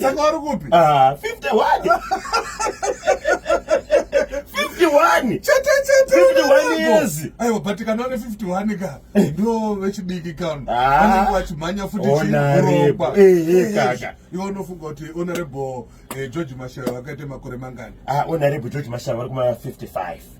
saka wari kupi 51 ah, aiwa but kana une 51 ka eh. ndo vechidiki kano ah. anenge vachimhanya futi chiurokwa eh, eh, iwe unofunga kuti honorable george mashaya vakaita makore mangani ah, honorable george mashaya vari kuma 55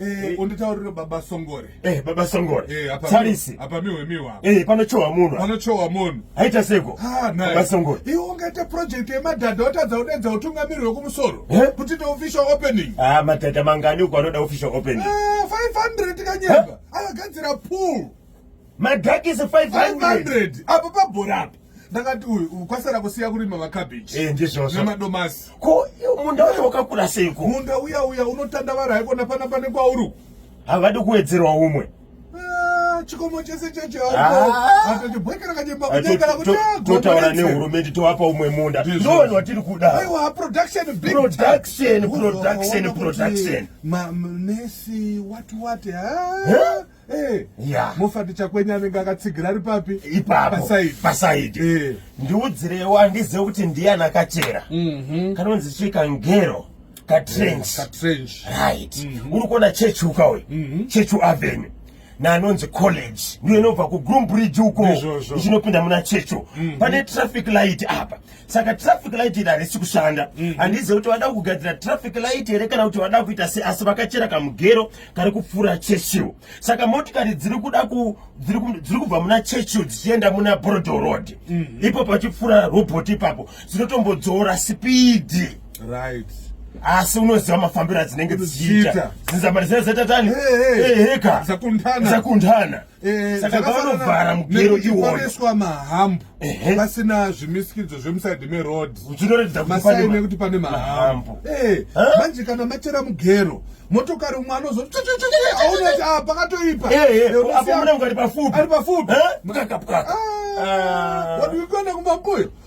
Eh, unditaurire baba songore eh, baba songore eh, tarisi apa miwe miwa eh, panochowa munhu panochowa munhu aita seko ah, baba songore iwe ungaita project yemadhadha watadza udenza utungamiri wekumusoro eh? kuti ndo official opening ah, madhadha mangani uko anoda official opening ah, 500 kanyemba eh? akagadzira pool madhakisi 500 apo pabhora apo ndakati uyu kwasara kusiya kurima macabbage eh, ndizvozvo nemadomasi ko munda wacho wakakura seiko munda uya uya unotandavara haiko napana pane kwauri havadi kuwedzerwa umwe ah, chikomo chese chechatotaura ah. nehurumende tovapa umwe munda ndooni watiri kudaproductionproductionproductionproduction manesi watiwati Eh, yeah. mofati chakwenye anenge akatsigira ari papi ipapasaidi eh. ndiudzirewo handizive kuti ndiyani akachera mm -hmm. kanonzi chii kangero katrench eh, right mm -hmm. uri kuona chechu ukawe mm -hmm. chechu avenue naanonzi college ndiyo inobva kugroom bridge uko ichinopinda muna checho mm -hmm. pane traffic light apa saka traffic light iri harisi kushanda mhm. handizive kuti vada kugadzira traffic light here kana kuti vada kuita se asi vakachera kamugero kari kupfuura churchill saka motikari dziri kuda dziri kubva muna churchill dzichienda muna brodo road mhm. ipo pachipfuura robot ipapo dzinotombodzora sipidi right asi unoziva mafambiro adzinenge dzichiita zinzamari dzine zetatani heka zakundana Eh, saka pavanovhara mugero iwoyoiswa mahambu pasina zvimisikidzo zvemusaidhi meroad masaini ekuti pane mahambu eh, manje kana machera mugero motokari umwe anozoti aonati a ah, pakatoipa eh, ari pafupi ah, ah. wadiwikuenda kumba mkuyo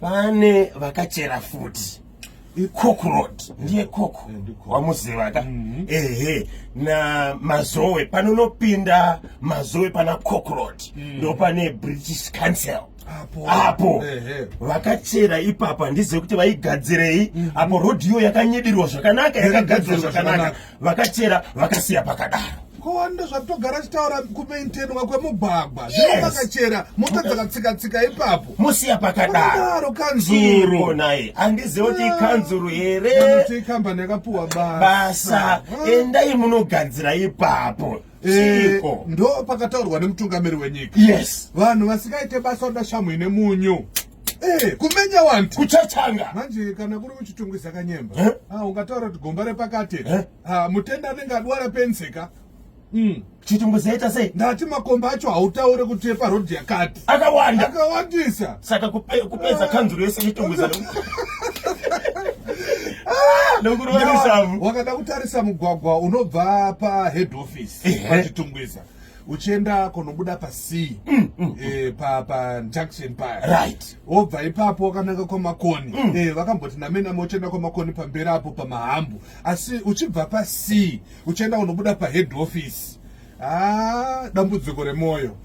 pane vakachera futi icook road ndiye cook eh, wamuziva ka mhm. ehe na mazowe panonopinda mazowe pana cook road mm. ndo pane british council apo vakachera ipapa ndizive kuti vaigadzirei mhm. apo road iyo yakanyedirwa zvakanaka yakagadzirwa zvakanaka vakachera vakasiya pakadaro kowanda zvatogara chitaura kumaintenwa kwemugwagwa zvino vakachera mota dzakatsika tsika ipapo musiya pakadaro kanzuru naye handiziva kuti ikanzuru ah. here kuti ikambani yakapuwa basa ah. endai munogadzira ipapo Eh, ndo pakataurwa nemutungamiri wenyika yes vanhu vasikaite basa oda shamhu ine munyu Eh, kumenya wanti kuchachanga manje kana kuri kuchitungu isakanyemba eh? ah, ungataura kuti gomba repakati eh? ah, mutenda anenge adwara penseka mm. chitungu zaita sei ndati makomba acho hautaure kuti eparodhi yakati akawanda akawandisa saka kupedza kanzuru yese chitungu ah! wakada kutarisa mugwagwa unobva pahead office pachitungwiza uchienda kunobuda pasea mm, mm, e, pa, pa junction paya right wobva ipapo wakananga kwamakoni mm. e, vakamboti namenama uchienda kwamakoni pamberi apo pamahambu asi uchibva pasea uchienda kunobuda pahead office ah, dambudziko remwoyo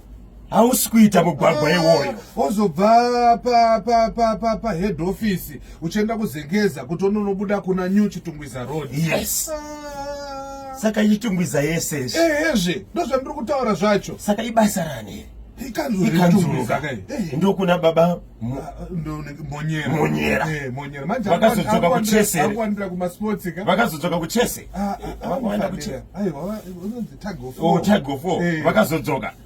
hausi kuita mugwagwa ah, iwoyo wozobva pahead office uchienda kuzengeza kuti unonobuda kuna new chitungwiza road yes ah. saka itungwiza yese izvi ehezve ndozvandiri kutaura zvacho saka ibasa rani ndokuna baba monyeravaakazodzoka kuchese vakazodzoka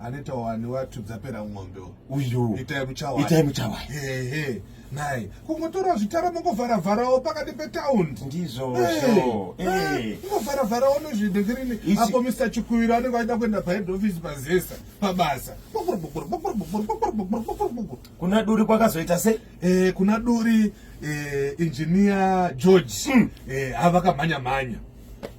anoita wani watu dzapera ng'ombe uyu itai muchawai itai muchawai ehe nhai kungotora zvitara mungovhara vharawo pakati petaundi ndizvo mungovhara vharawo nozvidekirini apo mr chikuwiro anenge aida kuenda pahead office pazesa pabasa kuna duri kwakazoita sei eh, kuna duri eh, engineer george hmm. eh, avakamhanya mhanya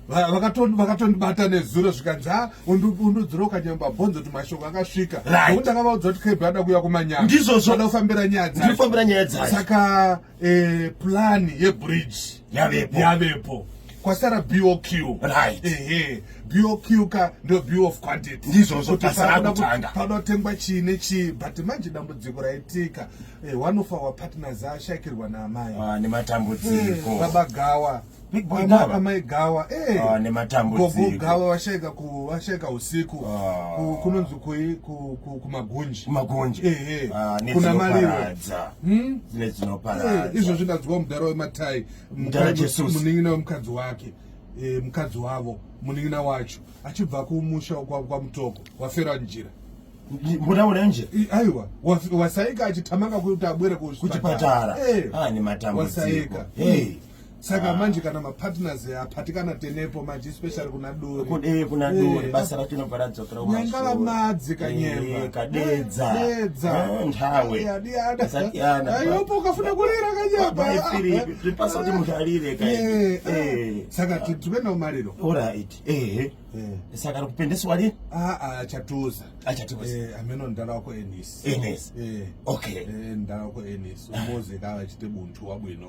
vakatondibata nezuro zvikanzi ha undudzira ukanyamba bhonzo kuti mashoko akasvika nokuti ndakavaudza kuti kb ada kuuya kumanyama ndizvozvo ada kufambira nyaya dzakufambira nyaya dzayo saka eh, plani yebridge yavepo yavepo kwasara boq right ehe boq ka ndo bo of quantity ndizvozvo pasanakutangapanootengwa chii nechii but manje dambudziko raitika eh, one of our partners ashakirwa naamai ah, nematambudziko eh, babagawa Big boy Ama, Gava. Amai Gawa. Eh. Ah, nematambudziko. Gogo Gawa vashaika ku vashaika usiku. Ah. Ku, kunonzi kui ku, ku, kumagunji. Kumagunji. Eh eh. Ah, Kuna maliwo. Hmm? Zine dzinoparadza. Eh, izvo zvinadzwa mudhara wematai. Mudhara Jesus. Muningina wemukadzi wake. Eh, mukadzi wavo muningina wacho achibva kumusha kwa, kwa mutoko wafera njira mbuda urenje aiwa wasaika achitamanga kuti abwere kuchipatara eh. ah, nematambudziko hey. saka ah. manje kana mapartners apatikana tenepo manje especially kuna duri kudee kuna eh. duri basa racho inobva radzokera nyangala madzi kanyemba eh, kadedza dedza eh, ntawe asatiyana ayopo ukafuna kurira kanyemba zvipasa kuti munhu arire kai saka tikuenda kumariro alright ehe saka rikupendeswa ri aa ah, ah, chatuza achatuza ameno ndala wako enis enis okay ndala wako enis umuzi kawa chite buntu wabwino